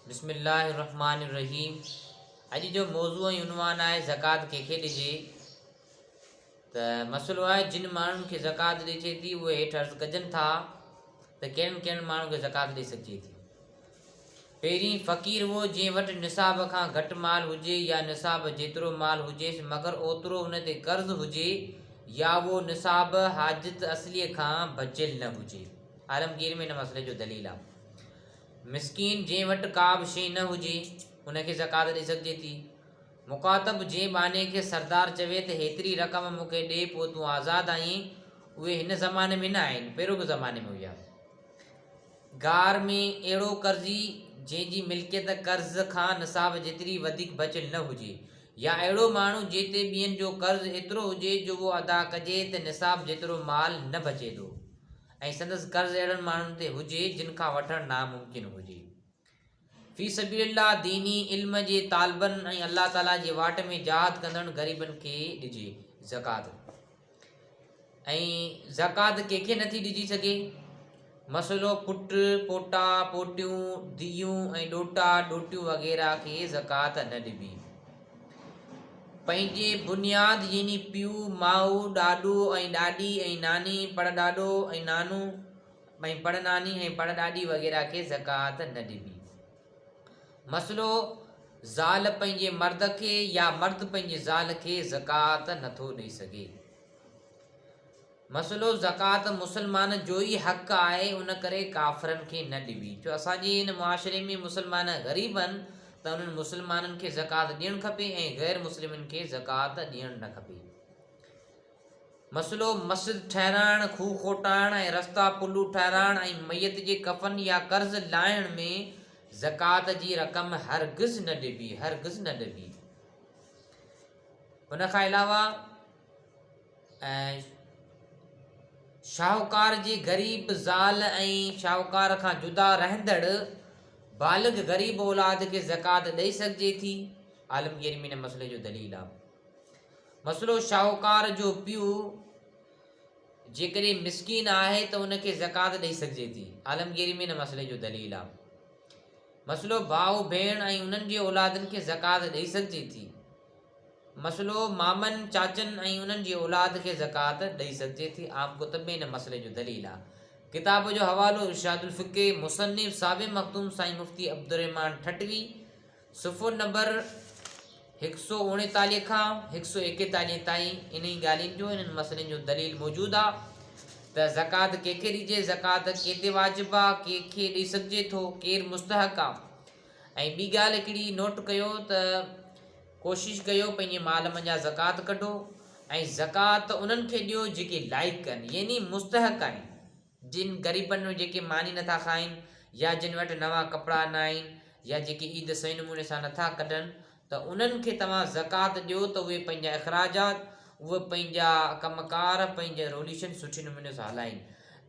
بسم الله الرحمٰن الرحيم اڄ جو موضوع ۽ عنوان آهي زڪوات ڪنهن کي ڏجي ته مسئلو آهي جن ماڻهن کي زڪوات ڏجي ٿي اهي هيٺ عرض ڪجن ٿا ته ڪهڙن ڪهڙن ماڻهن کي زڪوات ڏئي سگهجي ٿي پهرين فقير هو جنهن وٽ نصاب کان گهٽ مال هجي يا نصاب جيترو مال هجيس مگر اوترو ان تي قرض هجي يا اهو نصاب حاجت اصليء کان بچيل نه هجي عالمگير ۾ ان مسئلي جو دليل آهي مسڪين جنهن وٽ ڪابه شيء نه هجي، ان کي زڪوات ڏئي سگهجي ٿي. مخاطب جنهن ٻانهي کي سردار چوي ته هيتري رقم مون کي ڏي پوء تون آزاد آهين، اهي هن زماني ۾ نه آهن، پهريون به زماني ۾ هيا. گار ۾ اهڙو قرضي جنهن جي ملڪيت قرض کان نصاب جيتري وڌيڪ بچيل نه هجي يا اهڙو ماڻهو جنهن تي ٻين جو قرض ايترو هجي جو اهو ادا ڪجي ته نصاب جيترو مال نه بچي ٿو. ۽ سندس قرض اهڙن ماڻهن تي هجي جن کان وٺڻ ناممڪن هجي. في سبيل الله ديني علم جي طالبن ۽ الله تعالي جي واٽ ۾ جهاد ڪندڙن غريبن کي ڏجي زڪات ۽ زڪات ڪنهن کي نٿي ڏجي سگهي مسئلو پٽ پوٽا پوٽيون ڌيون ۽ ڏوٽا ڏوٽيون وغيره کي زڪات نه ڏبي پنهنجي بنياد يعني پيو، ماء، ڏاڏو ۽ ڏاڏي ۽ ناني، پڙڏاڏو ۽ نانو ۽ پڙناني ۽ پڙڏاڏي وغيره کي زڪوات نه ڏبي. مسئلو، زال پنهنجي مرد کي يا مرد پنهنجي زال کي زڪوات نٿو ڏئي سگهي. مسئلو زڪوات مسلمان جو ئي حق آهي ان ڪري ڪافرن کي نه ڏبي ڇو اسان جي هن معاشري ۾ مسلمان غريب آهن ته انهن مسلمانن کي زڪوات ڏيڻ کپي ۽ غير مسلمن کي زڪوات ڏيڻ نه کپي مسئلو مسجد ٺهرائڻ کوهه کوٽائڻ ۽ رستا پلو ٺهرائڻ ۽ ميت جي ڪفن يا قرض لاهڻ ۾ زڪوات جي رقم هرگز نه ڏبي هرگز نه ڏبي ان کان علاوه ۽ شاهوڪار جي غريب زال ۽ شاهوڪار کان جدا رهندڙ بالغ غريب اولاد کي زڪوات ڏئي سگهجي ٿي؟ عالم ڪريم ان مسئلي جو دليل آهي. مسئلو شاهوڪار جو پيء جيڪڏهن مسڪين آهي ته ان کي زڪوات ڏئي سگهجي ٿي. عالم ڪريم ان مسئلي جو دليل آهي. مسئلو ڀاء ڀيڻ ۽ انهن جي اولادن کي زڪوات ڏئي سگهجي ٿي. مسئلو، مامن، چاچن ۽ انهن جي اولاد کي زڪوات ڏئي سگهجي ٿي، عام ڪتب ۾ ان مسئلي جو دليل آ. ڪتاب جو حوالو، ارشاد الفقه، مصنف، صاحب مخدوم سائين مفتي عبدالرحمان ٺٽوي، صفحو نمبر هڪ سؤ اوڻيتاليهه کان هڪ سؤ ايڪيتاليهه تائين انهي ڳالهين جو، انهن مسئلن جو دليل موجود آ ته زڪوات ڪنهن کي ڏجي، زڪوات ڪنهن تي واجب آ، ڪنهن کي ڏئي سگهجي ٿو، ڪير مستحق آ. ۽ ٻي ڳالهه هڪڙي نوٽ ڪيو ته ڪوشش ڪيو پنهنجي مال منجهان زڪوات ڪڍو ۽ زڪوات انهن کي ڏيو جيڪي لائق آهن يعني مستحق آهن جن غريبن ۾ جيڪي ماني نٿا کائين يا جن وٽ نوان ڪپڙا ناهن يا جيڪي عيد صحيح نموني سان نٿا ڪڍن ته انهن کي توهان زڪوات ڏيو ته اهي پنهنجا اخراجات، اهي پنهنجا ڪم ڪار، پنهنجا روليشن سٺي نموني سان هلائين.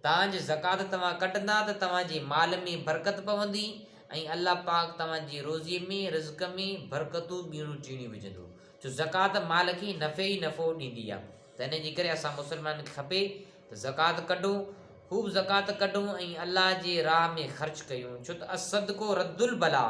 تان جي زڪوات توهان ڪڍندا ته توهان جي مال ۾ برڪت پوندي ۽ الله پاڪ توهان جي روزيء ۾، رزق ۾، برڪتون ٻيڻو ٽيڻي وجهندو. ڇو زڪوات مال کي نفعي ئي نفعو ڏيندي آهي. ته انهيء جي ڪري اسان مسلمانن کي کپي ته زڪوات ڪڍون، خوب زڪوات ڪڍون ۽ الله جي راهه ۾ خرچ ڪيون. ڇو ته الصدقو رد البلاء،